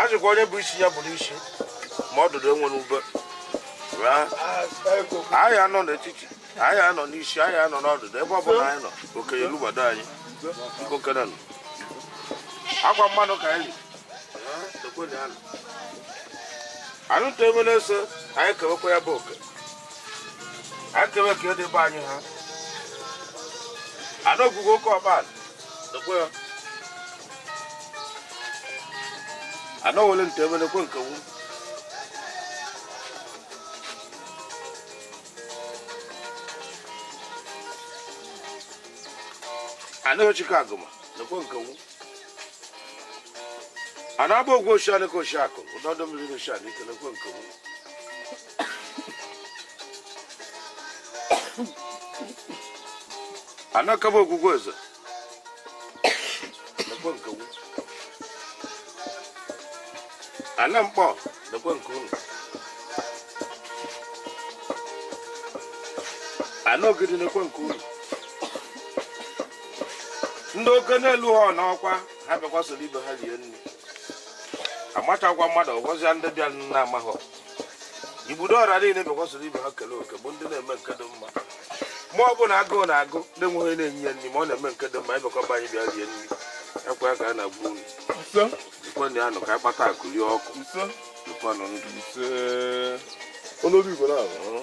a jụkwa onye bụ isi ya bụrụ isi ma ọdụdụ enwere ube anyị anọ n'etiti anyị anọ n'isi anyị anọ n'ọdụdụ ebe ọ bụla anyị nọ oke erubado anyị biko kenanụ akwa mmanụ ka anyị anụ tụ emere ese anyị kewekwa ya bụ oke a kewe ka edebe anyị ha ana okwukwe oke ọban ana wele nteme nekwe nke wu ana ochike agụma nekwe nke wu ana agba ogwe oshi anị ka oshi akụ ụdọ ọdọ mmiri oshi anị ike nekwe nke wu ana kaba ogwugwu ọzọ lekwa nke wu ana Nkpọ lekwa nke unu ana Ogidi lekwa nke unu ndị oke na-eruhọ n'ọkwa ha bịakwa soro ibe ha rie nri amatakwa mmadụ ọgọzịa ndị bịa na amaghị ibudo ọra niile bịakwa soro ibe ha kele oke bụ ndị na-eme nke dị mma ma ọ bụ na agụụ na-agụ na-enweghị na-enye ya nri ma ọ na-eme nke dị mma ịbekọba anyị bịa rie nri ekwe ya ka a na-agwa unu ikwenụ ya nụ ka anyị kpata akụ rie akụ dịkwanụ ndụ Onoli Ugonabọ.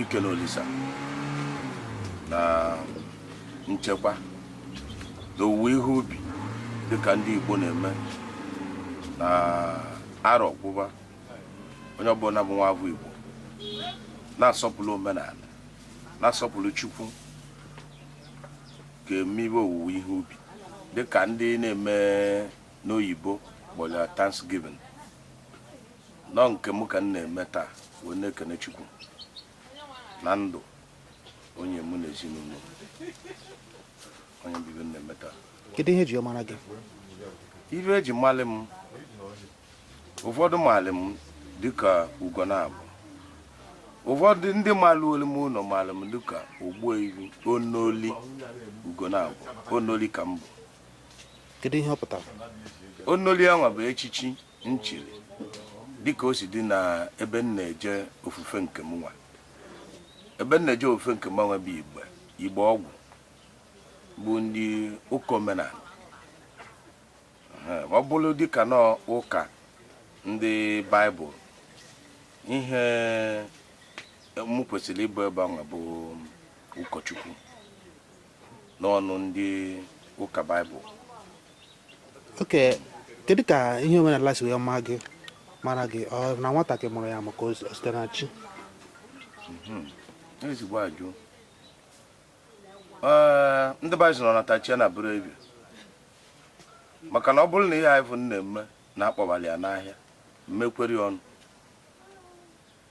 ikene Olisa na nchekwa na owuwe ihe ubi dịka ndị Igbo na-eme na arọ kwụba onye ọbụla bụ nwa afọ Igbo na-asọpụrụ omenanị na-asọpụrụ Chukwu ga-emebe owuwe ihe ubi dịka ndị na-eme n'oyibo kpọrọ Thanksgiving na ọ nke m ka m na-eme taa wee na-ekene Chukwu na ndụ o nye mụ na ezinụlọ ọ nya bụ ife na-eme taa kedu ihe eji mara gị ife eji malị m ụfọdụ maalị m dịka Ugonabọ ụfọdụ ndị maaluolu m ụnọ maalị m dịka Ogbuefi Onoli Ugonabọ onoli ka m bụ kedu ihe ọ pụtara onoli anwa bụ echichi m chiri dịka o si dị na ebe m na-eje ofufe nke mụ nwa ebe m na-eje ofufe nke mụ nwa bụ igbe igbe ọgwụ bụ ndị ụka omenala ọ bụrụ dịka na ụka ndị baịbụl ihe m kwesịrị ịbụ ebe ahụ bụ ụkọchukwu n'ọnụ ndị ụka baịbụl oke kedu ka ihe omenala si wee maa gị mara gị ọ na nwata ka ị mụrụ ya maka o site na chi mhm. ezigbo ajụjụ ndị baịbụl nọ na tachia na bụrụ ebi maka na ọ bụrụ na ihe anyị bụ na-eme na-akpọbali ya n'ahịa mmekweri ọnụ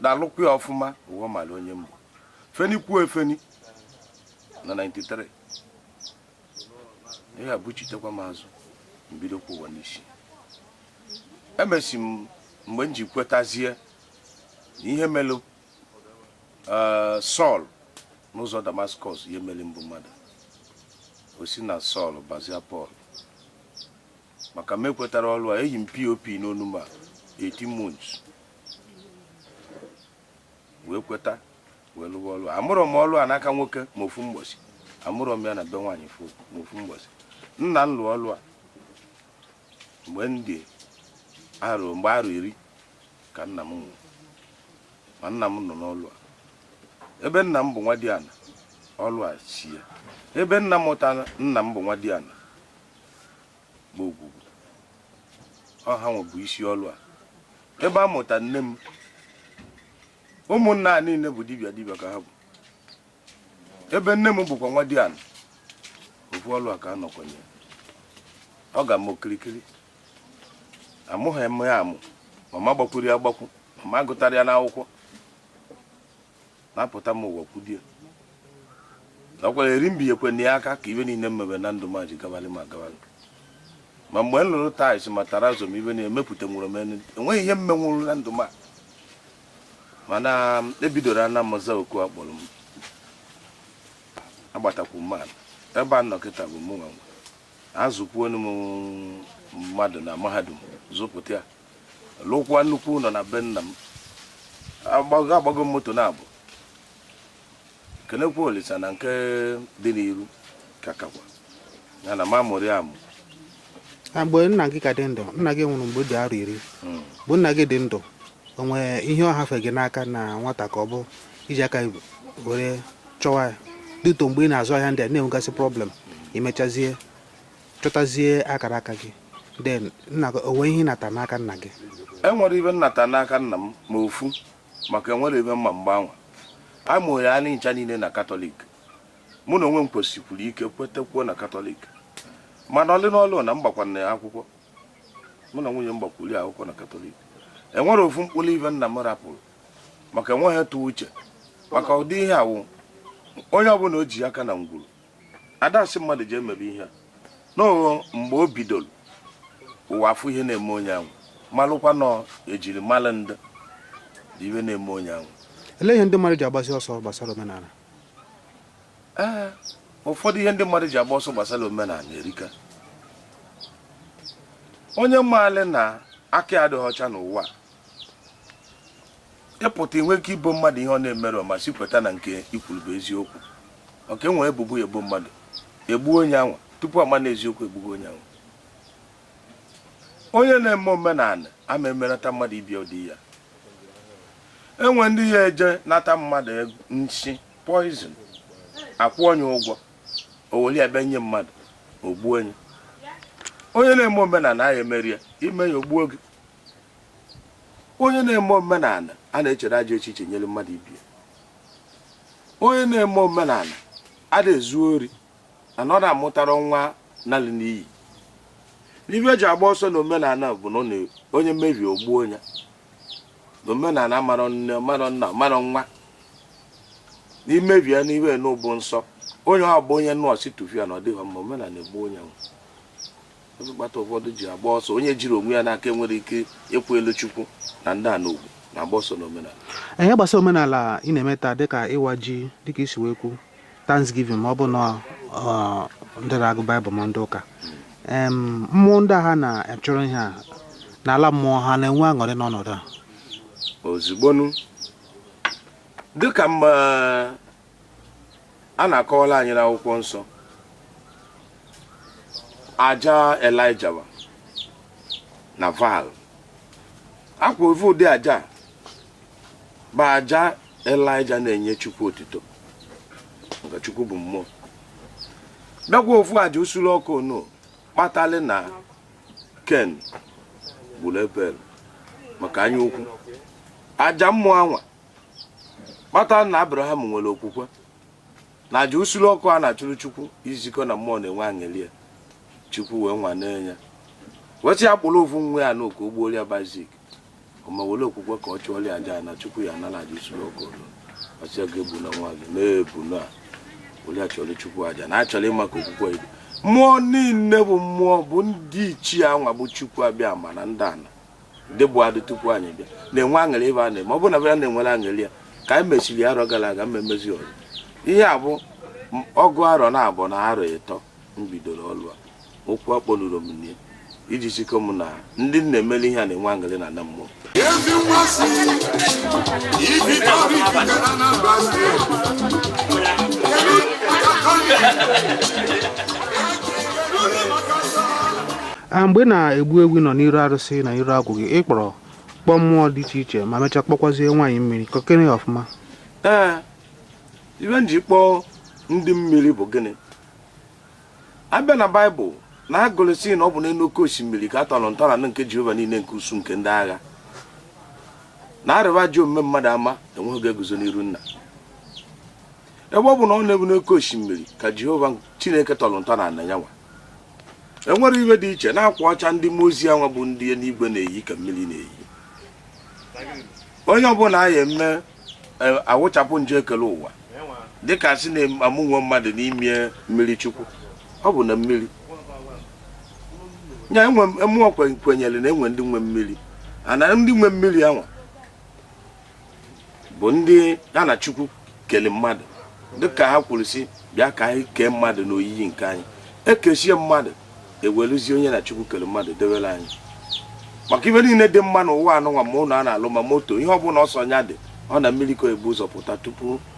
na-alụkwa ya ọfụma ụwa mara onye m bụ feni kwuo efeni na 93 ihe a buchitekwa m azụ m bidokwa ụwa n'isi emesịa mgbe m ji kwetazie na ihe melụ eh, Sọl n'ụzọ Damaskọs ihe mere m bụ mmadụ o si na Sọl bazia Pọl maka m ekwetarọ ọlụ a eyi m POP n'onu ma 18 months wee kweta wee lụwa ọlụ amụrọ m ọlụ a n'aka nwoke ma ofu mgbọsị amụrọ m ya na be nwaanyị ma ofu mgbọsị nna m lụọ ọlụ a mgbe m dị arọ mgbe arọ iri ka nna m nwụrụ ma nna m nọ n'ọlụ a ebe nna m bụ nwadiana ọlụ a si ya ebe nna mụtara nna m bụ nwadiana bụ Ogwugwu ọ ha nwa bụ isi ọlụ a ebe a mụta nne m ụmụnna a niile bụ dibịa dibịa ka ha bụ ebe nne m bụkwa nwadiana ofu ọlụ a ka a nọkwanye ọ gbaa m okirikiri amụghị m ya amụ ma m agbakwurọ ya agbakwu ma m agụtarọ ya n'akwụkwọ na apụta m ụwa kwudie na ọkwara eri mbe ekwe na ya aka ka ive niile m mebe na ndụ m ji gabali ma gabali ma mgbe m lụrụ tiles ma terrazzo ive m na-emepụta nwụrụ m enu enweghị ihe m menwuru na ndụ m a mana ebidoro ana m za oku a kpọrọ m agbatakwu m ana ebe a nọ kịta bụ mụ nwe azụkwuonu m mmadụ na mahadum zụpụta ya lụkwa nnukwu ụnọ na be nna m agbago agbago m moto naabọ kenekwa Olisa na nke dị n'iru ka kakwa ya na m amụrọ ya amụ na mgbe nna gị ka dị ndụ nna gị nwụrụ mgbe ị dị arọ iri Mm. mgbe nna gị dị ndụ o nwere ihe ọ hafe gị n'aka na nwata ka ọ bụ i ji aka gị were chọwa ya dịtụ mgbe ị na-azụ ahịa ndị a na-enwegasị problem i mechazie chọtazie akara aka gị then nna gị o nwe ihe ị nata n'aka nna gị enwere ive m nata n'aka nna m ma ofu maka enwere ive m ma mgbe anwa a mụrụ anyị ncha niile na katọlik mụ na onwe m kwesikwuru ike kwetekwuo na katọlik mana ọlị n'ọlụ na m gbakwara akwụkwọ mụ na nwunye m gbakwuru akwụkwọ na katọlik enwere ofu mkpụrụ ive nna m rapụrụ maka enweghị tụ uche maka ụdị ihe awụ onye ọbụla o ji aka na ngwuru ada asị mmadụ ji emebe ihe a n'ụlọ mgbe o bidoro ụwa afụ ihe na-eme onye ahụ malụkwa na ejiri malụ ndị dị ihe na-eme onye ahụ ele ihe ndị mmadụ ji agbasi ọsọ gbasara omenala ee ụfọdụ ihe ndị mmadụ ji agba ọsọ gbasara omenala erika onye maali na aka adịghị ọcha n'ụwa ịpụta inwe ike ibo mmadụ ihe ọ na-emerọ ma si kweta na nke i kwuru bụ eziokwu maka e nwe ebubo e bo mmadụ egbuo onye anwa tupu a ma na eziokwu egbugo onye anwa onye na-eme omenala ama emerata mmadụ ibe ya ụdị ya e nwe ndị ya eje nata mmadụ nsi poison akwụ onye ụgwọ o weli ebe nye mmadụ o gbuo onye onye na-eme omenala ahụ emerọ ya i mee ya o gbuo gị onye na-eme omenala a na-echere ajọ echiche nyere mmadụ ibe ya onye na-eme omenala ada ezu ori na na ọ na-amụtara nwa nalị n'iyi n'ive e ji agba ọsọ na omenala bụ na ọ na- onye mebie o gbuo ya na omenala marọ nne marọ nna marọ nwa na i mebie n'ive nọ bụ nsọ onye ọ bụ onye nọ sị tụfia na ọ dịghị mma omenala egbuo onye ahụ Ive kpata ụfọdụ ji agba ọsọ onye jiri onwe ya n'aka enwere ike ịkwụ elu Chukwu na ndị a n'ugwu na-agba ọsọ n'omenala. Ihe gbasara omenala ị na-eme taa dịka ịwa ji dịka i si wee kwu Thanksgiving ma ọ bụ na ndị na-agụ Baịbụl ma ndị ụka mmụọ ndị a ha na-achụrụ ihe a n'ala mmụọ ha na-enwe aṅụrị n'ọnọdụ ha ozigbonu dịka mma a na-akọwala anyị n'akwụkwọ nsọ aja Elijah na Baal ọkwa ofu ụdị aja bụ aja Elijah na-enye Chukwu otito nke Chukwu bụ mmụọ bịakwa ofu aja nsulu ọkụ nọ kpatali na Cain gburu Abel maka anya ukwu aja mmụọ anwa kpata na abraham nwere okwukwe na aja nsure ọkụ a na-achụrụ chukwu izikọ na mmụọ na-enwe aṅụrị ya chukwu wee nwane ya wee sị ya kpụrụ ofu nwa ya n'oke ugwu moria bazik ma were okwukwe ka ọ chụọrọ aja na chukwu ya na aja nsure ọkụ ọ sị ya egbuna nwa gị na ebuna were ya chụọrọ chukwu aja na a chọrọ ịma ka okwukwe ibu mmụọ niile bụ mmụọ bụ ndị ichie anwa bụ chukwu abịama na ndị ana ndị bu adị tupu anyị bịa na-enwe aṅụrị ibe a na-eme ọ bụ na ba na-enwere aṅụrị ya ka anyị mesịrị arọ gara aga mmemmezi ọrụ ihe a bụ ọgụ arọ na abụọ na arọ ịtọ m bidoro ọlụ a okwu akpọnụrọ m nne iji zikọ m na ndị m na-emeli ihe a na-enwe aṅụrị na na mmụọ ezi nwa si ibi ọrụ ikike na Anambra steeti a mgbe na-egbu ewu nọ n'iru arụsị n'iru agwụ gị ị kpọrọ kpọọ mmụọ dị iche iche ma mechaa kpọkwazie nwaanyị mmiri kọkere ya ọfụma ee ibe m ji kpọọ ndị mmiri bụ gịnị a bịa na baịbụl na a gụrụ sị na ọ bụ n'elu oke osimiri ka a tọrọ ntọala nke jehova niile nke ụsụụ nke ndị agha na arịba ji omume mmadụ ama enwe ike eguzo n'iru nna ebe ọ bụ na ọ n'elu oke osimiri ka jehova chineke tọrọ ntọala na ya nwa enwere ihe dị iche na akwa ọcha ndị mmụọ ozi anwa bụ ndị eluigwe na-eyi nke mmiri na-eyi onye ọbụla a na-eme e, a wụchapụ njọ ekelu ụwa dịka sị na-amụnwe mmadụ n'ime mmiri chukwu ọ bụ na mmiri nya mụnwa kwenyere na e nwe ndị nwe mmiri and ndị nwe mmiri anwa bụ ndị ha na chukwu kele mmadụ dịka ha kwuru sị bịa ka anyị kee mmadụ n'oyiyi nke anyị e kesịa mmadụ eweluzie onye na chukwu kele mmadụ dewere anyị maka ibe niile dị mma n'ụwa anụnwa ma ụnọ a na-alụ ma moto ihe ọbụla ọ sọ nya dị ọ na mmiri ka e bu ụzọ pụta tupu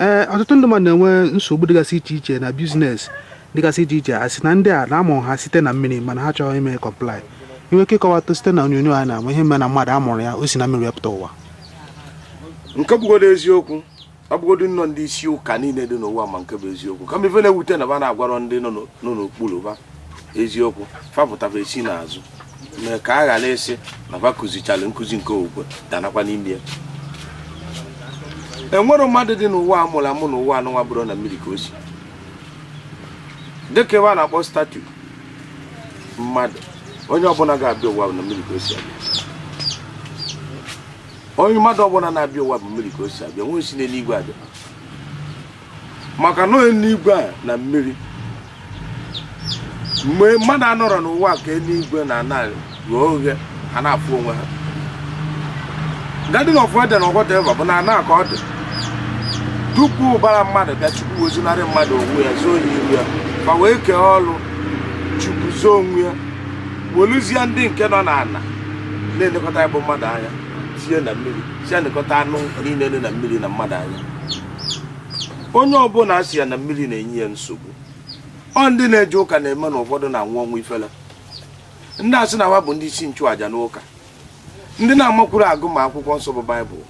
ee ọtụtụ ndị mmadụ na-enwe nsogbu dịgasị iche iche na business dịgasị iche iche a sị na ndị a na a mụrụ ha site na mmiri mana ha achọrọ ime comply ị nwe ike ịkọwata site na onyonyo a na-ama ihe mere na mmadụ amụrụ ya o si na mmiri wee pụta ụwa nke bụgodo eziokwu ọ bụgodo nnọọ ndị isi ụka niile dị n'ụwa ma nke bụ eziokwu kama ife na-ewute na ba na-agwarọ ndị nọ n'okpuru ba eziokwu fa pụta ba esi n'azụ mee ka a ghara ịsị na ba kụzichala nkụzi nke okwukwe danakwa n'ime ya enwere mmadụ dị n'ụwa a mụrụ amụ n'ụwa anụnwa abụrọ na mmiri ka o si dịka ebe a na-akpụ statue mmadụ onye ọbụla ga-abịa ụwa na mmiri ka o si abịa onye mmadụ ọbụla na-abịa ụwa bụ mmiri ka o si abịa nwere si n'eluigwe abịa maka na eluigwe a na mmiri mgbe mmadụ anọrọ n'ụwa ka eluigwe na ana ghe oghe ha na-afụ onwe ha garden of eden ọgọdeva bụ na ana ka ọ dị tupu ụbara mmadụ bịa chukwu wezunarị mmadụ onwe ya zoo ya iru ya ma wee kee ọrụ chukwu zoo onwe ya weluzie ndị nke nọ n'ala na-elekọta ya bụ mmadụ anya tinye na mmiri sị ha nekọta anụ niile dị na mmiri na mmadụ anya onye ọbụla a sị ya na mmiri na-enye ya nsogbu ọ ndị na-eje ụka na-eme na ụfọdụ na-anwụ ọnwụ ifele ndị a sị na ha bụ ndị isi nchụàja n'ụka ndị na-amakwuru agụ ma akwụkwọ nsọ bụ baịbụl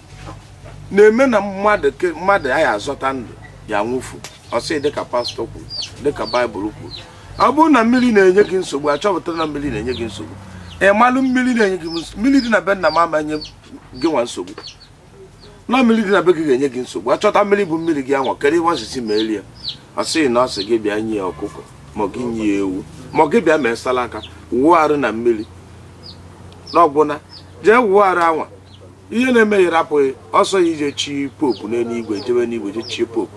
na-eme na mmadụ ya azọta ndụ ya nwụfuo sị dịka pastọ kwuru dịka baịbụl kwuru ọ bụrụ na mmiri na-enye gị nsogbu a chọpụtara na mmiri na-enye gị nsogbu ị malụ mmiri na-enye gị mmiri dị na be nna m ama enye gị nwa nsogbu na mmiri dị na be gị ga-enye gị nsogbu a chọta mmiri bụ mmiri gị anwa kedu ihe a sị sị melie ọ sịghị na ọ sị gị bịa nye ya ọkụkọ ma gị nye ya ewu ma gị bịa mee salaka wụọ arụ na mmiri na ọgwụna jee wụọ arụ anwa ihe na-eme ya rapụ gị ọ sọ gị je chi popu n'eluigwe jebe n'igwe je chie popu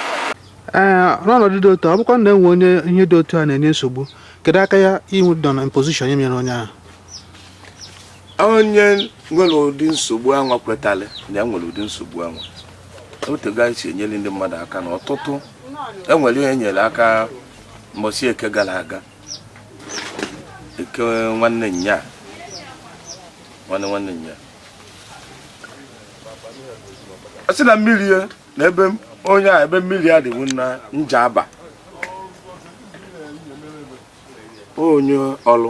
ee n'ọnọdụ dị otu a ọ bụkwa na e nwee onye ihe dị otu a na-enye nsogbu kedu aka ya inwe dọ na position ya mere onye ahụ onye nwere ụdị nsogbu anwa kwetara na ya nwere ụdị nsogbu anwa otego anyị si enyere ndị mmadụ aka na ọtụtụ e nwere onye e nyere aka mbọsi eke gara aga eke nwanne nya nwanne nwanne nya a sị na mmiri n'ebe onye a ebe mmiri ya dị bụ na njaba onye ọlụ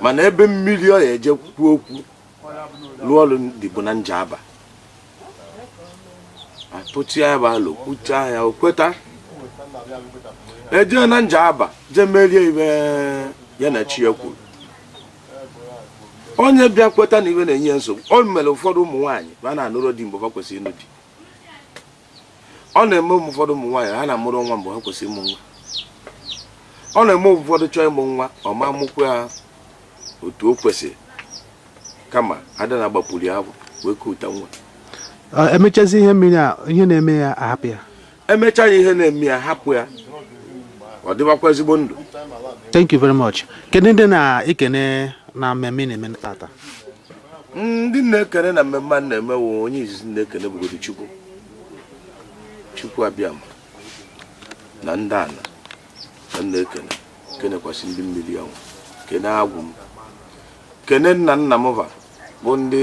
mana ebe mmiri ọ ya eje kwuo okwu lụọ ọlụ dị bụ na njaba atụcha ya bụ alụ kwuchaa ya o kweta e jee na njaba jee merie ihe ya na chi ya kwuru onye bịa kweta na ihe na-enye ya nsogbu o mere ụfọdụ ụmụ nwaanyị ha na-anụrụ di mgbe ha kwesịrị ịnụ di ọ na-eme ụfọdụ ụmụ nwaanyị ha na-amụrụ nwa mgbe ha kwesịrị ịmụ nwa ọ na-eme ụfọdụ chọọ ịmụ nwa ọ ma mụkwa ya otu o kwesịrị kama ada na-agbapụrụ afọ wee kuta nwa e mechazie ihe mmiri a ihe na-eme ya ahapụ ya emechaa ya ihe na-eme ya hapụ ya ọ dịbakwa ezigbo ndụ thank you very much kedu ndị ị na-ekene na mmemme ị na-eme tata ndị m na-ekene na mmemme a na-eme wụ onye izizi m na-ekene bụgodo chukwu chukwu abịama na ndị ana m na-ekene kenekwasị ndị mmiri nwe m kene agwụ m kene nna nna m va bụ ndị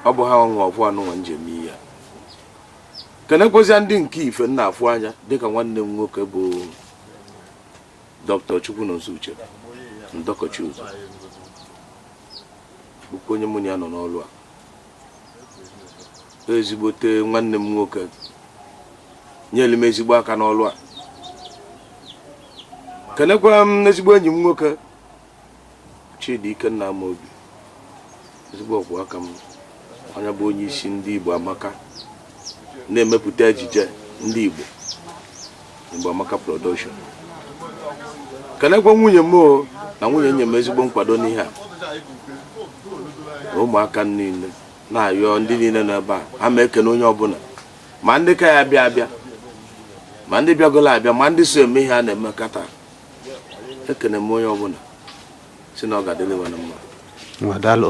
ọ bụ ha nwe obu anụnwa m ji eme ihe kenekwazia ndị nke ife m na-afụ anya dịka nwanne m nwoke bụ dọkịta Chukwunonso Uchendu Ọkọchi ụzọ bụkwa onye mụ na ya nọ n'ọrụ a ezigbote nwanne m nwoke nyere m ezigbo aka n'ọrụ a kenekwa ezigbo enyi m nwoke Chidi Ikenna Amobi ezigbo ọkwụ aka m onye bụ onye isi ndị Igbo Amaka na-emepụta ejije ndị Igbo Igbo Amaka production kenekwa nwunye m na nwunye nye m ezigbo nkwado n'ihe a ụmụaka niile na-ayọ ndị niile nọ ebe a ha m ekene onye ọbụla ma ndị ka ya-abịa abịa ma ndị bịagolo abịa ma ndị so eme ihe a na-eme kata ekene m onye ọbụla sị na ọ ga-adịrị wa na mma ngwa daalụ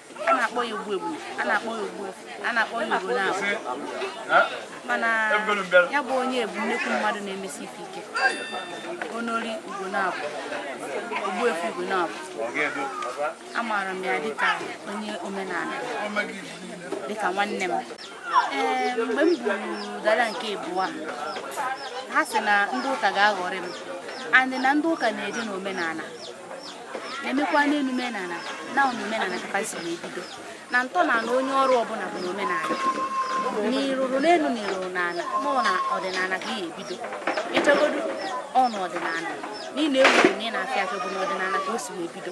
a na-akpọ ya Ogbuebu a na-akpọ ya Ogbuefi a na-akpọ ya Ugonabo mana ya bụ onye bụ nnekwu mmadụ na-emesi ife ike onori Ugonabo Ogbuefi Ugonabo amaara m ya dịka onye omenala dịka nwanne m ee mgbe mbụ gara nke ịbụa ha sị na ndị ụka ga-aghọrị m andị na ndị ụka na-eje n'omenala na-emekwa n'elu omenala na omenala ka e si wee bido na ntọala onye ọrụ ọbụla bụ n'omenala na i ruru n'elu na i ruru n'ala mụọ na ọdịnala ka ihe ebido ị chọgodu ọnụ ọdịnala niile egwu na ị na-afịa afịa bụ n'ọdịnala ka o si wee bido